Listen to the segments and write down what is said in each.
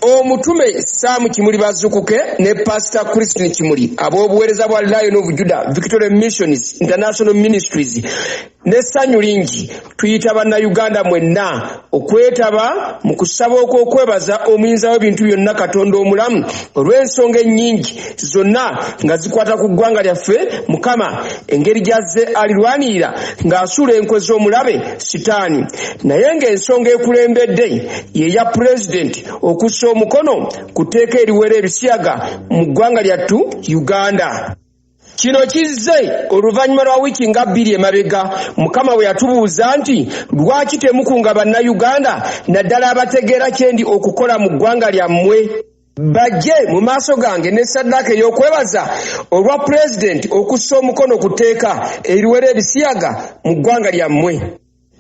omutume saamu kimuli bazukuke ne pasita christine kimuli ab'obuweereza bwa lion of juda victoria missions international ministries n'essanyu lingi tuyita bannayuganda mwenna okwetaba mu kusaba okw'okwebaza omuyinza w'ebintu byonna katonda omulamu olw'ensonga ennyingi zonna nga zikwata ku ggwanga lyaffe mukama engeri gyazze alirwanirira ng'asuula enkwe z'omulabe sitaani naye ng'ensonga ekulembedde yeya pulezidenti okussa omukono ku tteeka eriwera ebisiyaga mu ggwanga lyattu uganda kino kizze oluvannyuma lwa wiiki nga bbiri emabega mukama bwe yatubuuza nti lwaki temukunga bannayuganda naddala abategeera kyendi okukola mu ggwanga lyammwe bajje mu maaso gange ne saddaaka ey'okwebaza olwa pulezidenti okussa omukono ku tteeka eriwera ebisiyaga mu ggwanga lyammwe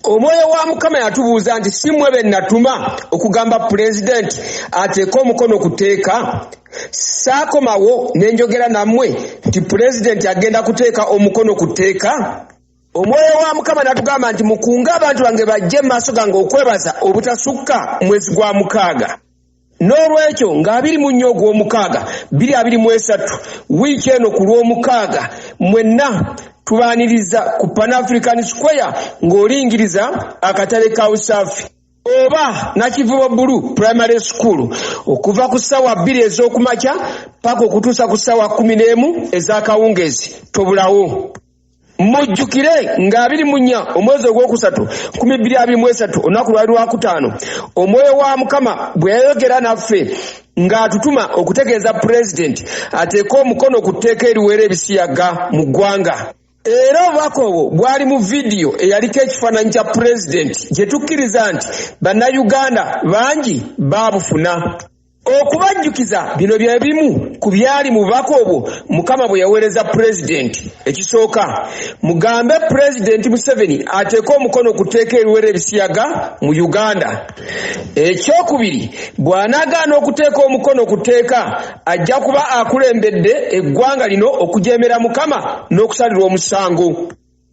omwoyo wa mukama yatubuuza nti si mwe be natuma okugamba pulezidenti ateeke omukono ku tteeka saakomawo ne njogera nammwe nti pulezidenti agenda kuteeka omukono ku tteeka omwoyo wa mukama natugamba nti mukunge abantu bange bajje mu maaso gange okwebaza obutasukka mwezi gwa mukaaga N'olwekyo, nga abiri mu nnya ogw'omukaaga, bbiri abiri mu esatu, wiiki eno ku Lwomukaaga, mwenna tubaaniriza ku Pan African Square ng'olingiriza akatale ka USAFI. oba Nakivubo Bulu Primary School okuva ku ssaawa bbiri ez'oku makya paka okutuusa ku ssaawa kkumi n'emu ez'akawungeezi. Tobulawo! mujjukire nga abiri mu nnya omwezi ogwokusatu nkumi bbiri abiri mu esatu olunaku lwali lwakutaano omwoyo wa mukama bwe yayogera naffe ng'atutuma okutegeeza pulezidenti ateeke omukono ku tteeka eriweera ebisiyaga mu ggwanga era obubaka obwo bwali mu vidiyo eyaliko ekifaananyi kya pulezidenti gye tukkiriza nti bannayuganda bangi baabufuna Okubajjukiza bino bye bimu ku byali mu bubaka obwo Mukama bwe yaweereza Pulezidenti. Ekisooka, mugambe Pulezidenti Museveni ateeke omukono ku tteeka eriwera ebisiyaga mu Uganda. Ekyokubiri, bw'anaagaana okuteeka omukono ku tteeka, ajja kuba akulembedde eggwanga lino okujeemera Mukama n'okusalirwa omusango.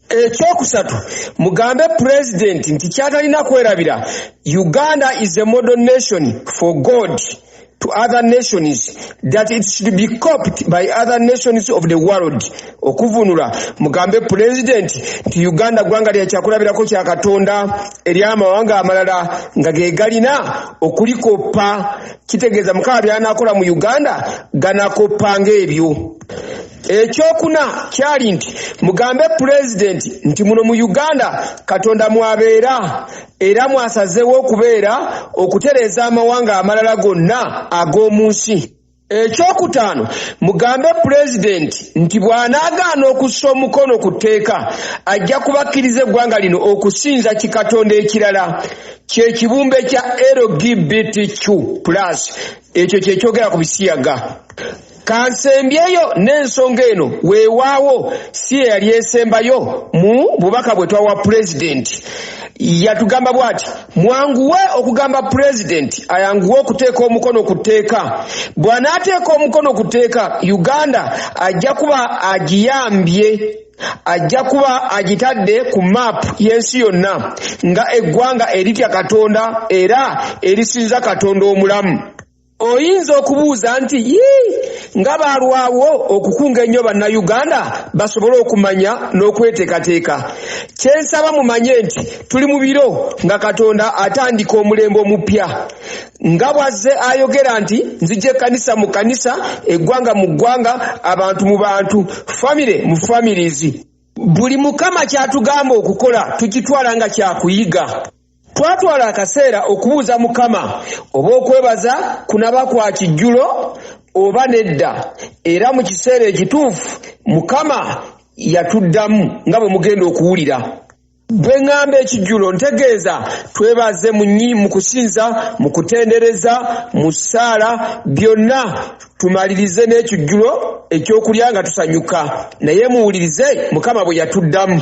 ekyokusatu mugambe president nti kyatalina kwerabira uganda is a model nation for god to other nations that it should be coped by other nations of the world okuvunula mugambe president nti uganda gwanga lyakyakulabirako kya katonda eri amawanga amalala nga gegalina okulikoppa kitegeeza mukama byanakola mu uganda ganakoppa ngaebyo ekyokuna kyali nti mugambe pulezidenti nti muno mu uganda katonda mwabeera era mwasazeewo okubeera okutereeza amawanga amalala gonna ag'omu nsi ekyokutaano mugambe pulezidenti nti bw'anaagaana okussa omukono ku tteeka ajja kubakkiriza eggwanga lino okusinza kikatonda ekirala kye kibumbe kya lgbtq plus ekyo kye kyogera ku bisiyaga Kansembyeyo n'ensonga eno weewaawo si ye yali esembayo mu bubaka bwe twawa Pulezidenti. Yatugamba bw'ati, Mwanguwe okugamba Pulezidenti ayanguwe okuteeka omukono ku tteeka. Bw'anaateeka omukono ku tteeka, Uganda ajja kuba agiyambye. Ajja kuba agitadde ku mmaapu y'ensi yonna nga eggwanga eritya Katonda era erisinza Katonda omulamu. Oyinza okubuuza nti yii nga baalwawo okukunga ennyo Bannayuganda basobole okumanya n'okweteekateeka. Kye nsaba mumanye nti tuli mu biro nga Katonda atandika omulembe omuppya. Nga bw'azze ayogera nti nzija ekkanisa mu kkanisa, eggwanga mu ggwanga, abantu mu bantu, famire mu families. Buli Mukama ky'atugamba okukola tukitwala nga kya kuyiga. Twatwala akaseera okubuuza Mukama oba okwebaza kunaba kwa kijjulo oba nedda era mu kiseera ekituufu Mukama yatuddamu nga bwe mugenda okuwulira. Bwe ng'amba ekijjulo ntegeeza twebaze mu mu kusinza, mu kutendereza, mu ssaala byonna tumalirize n'ekijjulo ekyokulya nga tusanyuka. Naye muwulirize Mukama bwe yatuddamu.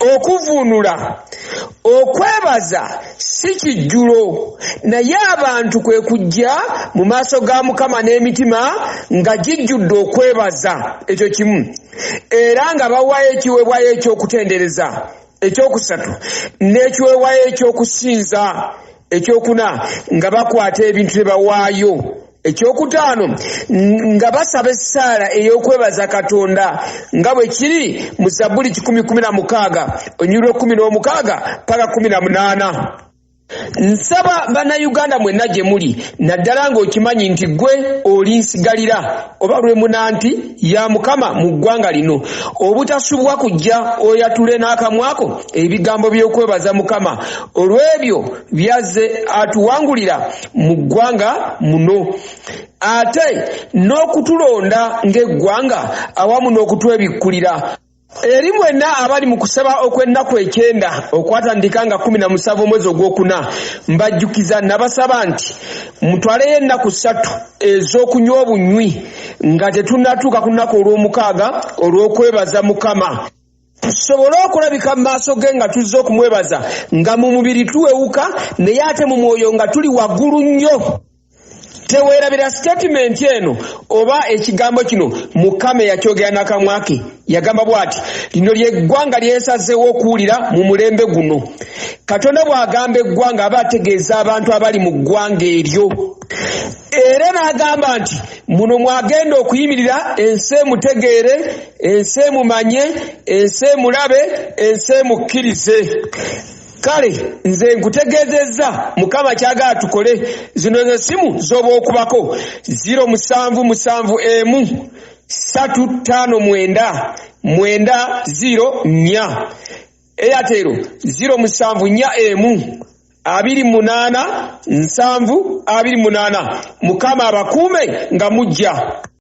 Okuvvuunula, Okwebaza si kijjulo, naye abantu kwe kujja mu maaso ga Mukama n'emitima nga gijjudde okwebaza, ekyo kimu, era nga bawaayo ekiweebwayo eky'okutendereza, eky'okusatu, n'ekiweebwayo eky'okusinza, eky'okuna, nga bakwata ebintu ne bawaayo. ekyokutaano nga basaba essaala ey'okwebaza katonda nga bwe kiri mu zabbuli kikumi kumi na mukaaga onyulwa ekkumi n'omukaaga paka kumi na munaana nsaba bannayuganda mwenna gye muli naddala ng'okimanyi nti ggwe oli nsigalira oba lwe muna nti ya mukama mu ggwanga lino obutasubwa kujja oyatule n'akamwako ebigambo by'okwebaza mukama olw'ebyo byazze atuwangulira mu ggwanga muno ate n'okutulonda ng'eggwanga awamu n'okutwebikkulira eri mwenna abali mu kusaba okw'ennaku ekyenda okwatandika nga kumi na musanvu omwezi ogwokuna mbajjukiza nabasaba nti mutwaleyo ennaku ssatu ez'okunywa obunywi nga tetunnatuuka ku nnaku olw'omukaaga olw'okwebaza mukama tusobole okulabika mu maaso ge nga tuzze okumwebaza nga mu mubiri tuwewuka naye ate mu mwoyo nga tuli waggulu nnyo teweerabira sitatimenti eno oba ekigambo kino mukama eyakyogera nakamwa ke yagamba bw'ati lino lyeggwanga lyesazeewo okuwulira mu mulembe guno katonda bw'agamba eggwanga aba ategeeza abantu abali mu ggwanga eryo era n'agamba nti muno mwagenda okuyimirira ensi emutegeere ensi emumanye ensi emulabe ensi emukkirize kale nze nkutegeezezza mukama kyagala tukole zino ze simu zoba okubako 0 musanvu musanvu emu satu ttaano mwenda mwenda 0 nnya Airtel ziro musanvu nnya emu abiri munaana nsanvu abiri munaana mukama abakuume nga mujja.